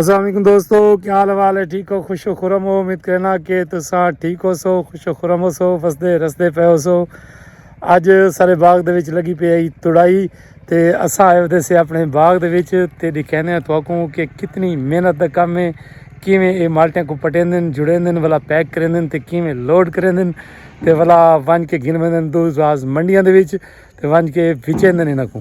السلام علیکم دوستو کیا حال حوال ہے ٹھیک ہو خوش و خرم ہو امید کرنا کہ تسا ٹھیک ہو سو خوش و خرم ہو سو فسدے رسدے پے ہو سو اج سارے باغ دے وچ لگی پی آئی تڑائی تے اسا آئے ہوتے سے اپنے باغ دے وچ تے دکھینے ہیں تو کو کہ کتنی محنت دا کم ہے کیویں اے مالٹیاں کو پٹین دن جڑین دن والا پیک کرین دن تے کیویں لوڈ کرین دن تے والا ونج کے گن میں دن دو راز منڈیاں دے وچ تے ونج کے بھیچین دن انہاں کو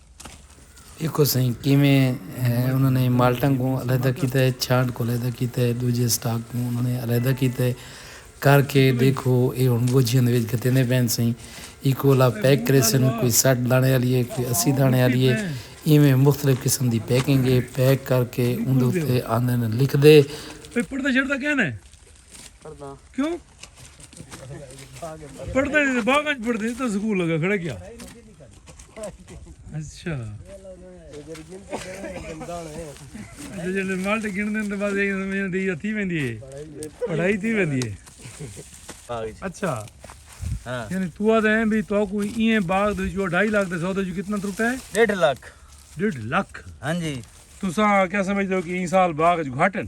ݙیکھو سئیں کیویں انہاں نے مالٹاں کوں علیحدہ کیتا ہے، چھانٹ کوں علیحدہ کیتا ہے، ݙوجھے اسٹاک کوں انہاں نے علیحدہ کیتا ہے، کر کے ݙیکھو ایہ ہݨ ڳوجھیاں دے وچ گھتیندے پئن سئیں، ایکوں الا پیک کریسن، کوئی سٹھ داݨے آلی ہے، کوئی اسی داݨے آلی ہے، ایویں مختلف قسم دی پیکنگ ہے، پیک کر کے اوندے اتے آندن لکھدے۔ پڑھدا کیوں پڑھدا نہیں باغ اچ پڑھدے تو سکول لگا کھڑا کیا اچھا جڑے مالٹ گن دین تے بس یہ سمجھ دی یا تھی ویندی ہے پڑھائی تھی ویندی ہے اچھا ہاں۔ یعنی تو آ دے بھی تو کوئی این باغ دے جو 2.5 لاکھ دے سودا جو کتنا ترٹا ہے 1.5 لاکھ 1.5 لاکھ ہاں جی تساں کیا سمجھدے ہو کہ این سال باغ جو گھٹن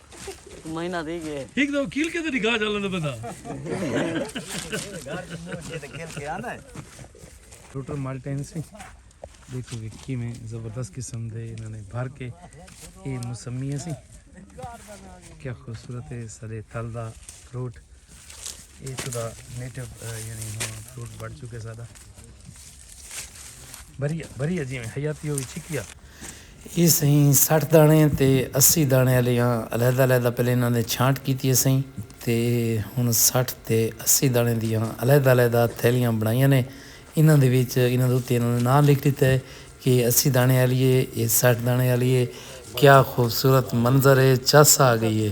مہینہ تھی گئے۔ ہک دو کھل کے تے نکاح چا لیندا بندہ۔ ٹوٹر مالٹین سی دیکھو کہ کیویں زبردست قسم دے انہاں نے بھر کے اے مسمیہ سی کیا خوبصورت ہے سارے تھل دا فروٹ اے تو دا نیٹو یعنی ہاں فروٹ بڑھ چکے سارا بھریا بھریا جیویں حیاتی ہووی چھکیا۔ اے سئیں سٹھ داݨے تے اسی داݨے آلیاں علیحدہ علیحدہ پہلے انہاں دے چھانٹ کیتی اے سئیں تے ہݨ سٹھ تے اسی داݨے دیاں علیحدہ علیحدہ تھیلیاں بݨائیاں نے انہاں دے وچ انہاں دے اتے انہاں نے ناں لکھ ݙتا اے کہ اے اسی داݨے آلی اے اے سٹھ داݨے آلی اے کیا خوبصورت منظر اے چس آ ڳئی اے۔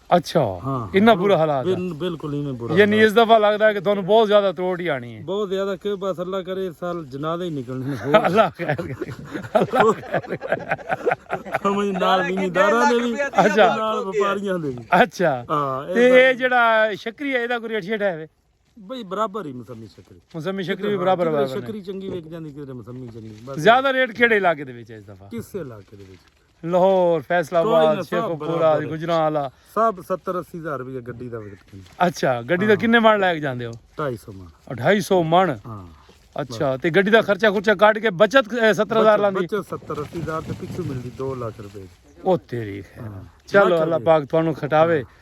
اچھا ہاں، ہاں، انہاں برا حالات ہے بل- بالکل ایویں برا یعنی حالات۔ اس دفعہ لگدا ہے کہ تانوں بہت زیادہ تروٹ ہی آنی ہے بہت زیادہ کہ بس اللہ کرے اس سال جنازے ہی نکلنے نے ہو اللہ خیر کرے، اللہ خیر کرے۔ سمجھ نال زمینداراں دے بھی اچھا۔ نال وپاریاں دے بھی اچھا ہاں، تے اے جڑا شکری ہے اے دا کوئی ریٹ شیٹ ہے وے بھئی برابر ہی مسمی شکری مسمی شکری بھی برابر ہے شکری چنگی وک جاندی کدھر مسمی چنگی زیادہ ریٹ کیڑے علاقے دے وچ ہے اس دفعہ کس علاقے دے وچ لاہور فیصل آباد شیخ پورا گجران والا سب 70 80 ہزار روپے گڈی دا ویٹ اچھا گڈی دا ہاں۔ کنے من لے کے جاندے ہو 250 من 250 من ہاں اچھا تے گڈی دا خرچہ خرچہ کاٹ کے بچت 70000 لاندی بچت 70 80 ہزار تے پیچھے ملدی 2 لاکھ روپے او تیری خیر ہاں۔ چلو اللہ پاک تانوں کھٹاوے ہاں۔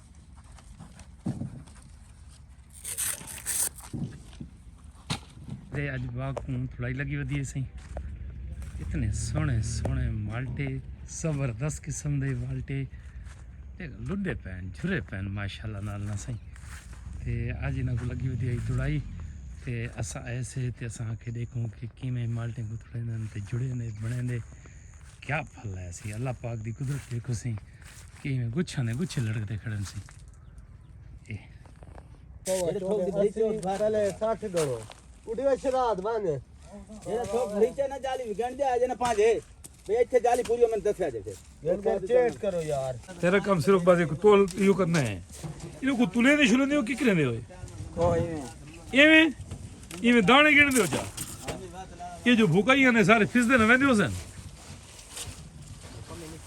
تے اج باغ کو تھوڑائی لگی ودی ہے سائیں اتنے سونے سونے مالٹے زبردست قسم دے مالٹے تے لڈے پین جھرے پین ماشاءاللہ نال نہ سائیں تے اج انہاں کو لگی ودی ہے تھوڑائی تے اساں ایسے تے اساں آ کے دیکھوں کہ کیویں مالٹے کو تھوڑے دن تے جڑے نے بنے دے کیا پھل ہے سی اللہ پاک دی قدرت دیکھو سائیں کہ میں گچھاں دے گچھے لڑک دے کھڑن سی تیرا کم صرف بازے کو تول پیو کرنا ہے انہوں کو تولے دے شروع دے ہو کی کرنے دے ہوئے ایویں ایویں دانے گرنے دے ہو جا یہ جو بھوکا ہی ہیں سارے فیس دے نوے دے ہو سن